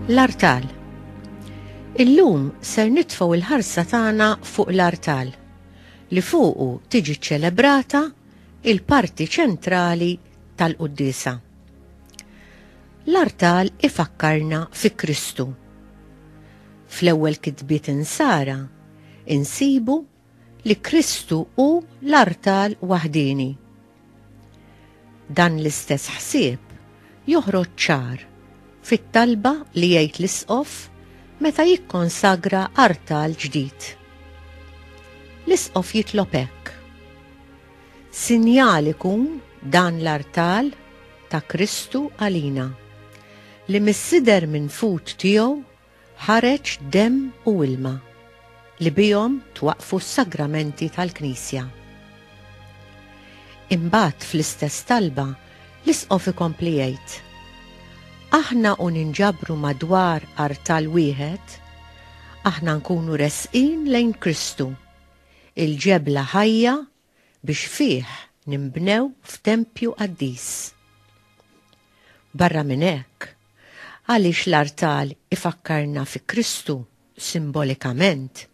L-artal. Illum ser nitfgħu l-ħarsa tagħna fuq l-artal li fuqu tiġi ċċelebrata il-parti ċentrali tal-quddisa. L-artal ifakkarna fi Kristu. Fl-ewwel kitbiet insara insibu li Kristu hu l-artal waħdieni. Dan l-istess ħsieb joħroġ ċar fit-talba li jgħid l-Isqof meta jikkonsagra artal ġdid. L-Isqof jitlob hekk, Sinjal ikun dan l-artal ta' Kristu għalina, li mis-sider minfud tiegħu Ħareġ demm u ilma, li bihom twaqqfu s-sagramenti tal-Knisja. Imbagħad fl-istess talba, l-Isqof ikompli jgħid, Aħna u ninġabru madwar artal wieħed, aħna nkunu resqin lejn Kristu, il-ġebla ħajja biex fih ninbnew f'tempju qaddis. Barra minn hekk, għaliex l-artal ifakkarna fi Kristu simbolikament,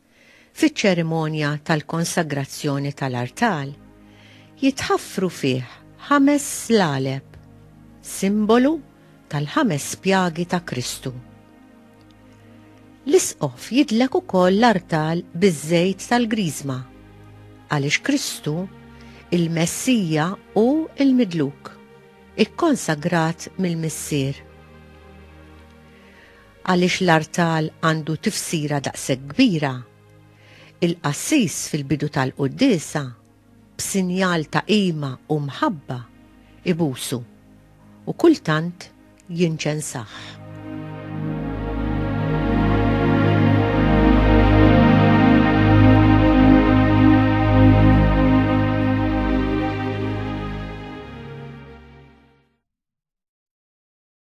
fiċ-ċerimonja tal-konsagrazzjoni tal-artal jitħaffru fih ħames slaleb, simbolu tal-ħames spjagi ta' Kristu. L-Isqof jidlek ukoll l-artal biż-żejt tal-Griżma, għaliex Kristu, il-Messija hu l-Midluk, ikkonsagrat mill-Missier. Għaliex l-artal għandu tifsira daqshekk kbira? Il-qassis fil-bidu tal-quddiesa b'sinjal ta' qima u mħabba, ibusu, u kultant jinċensah.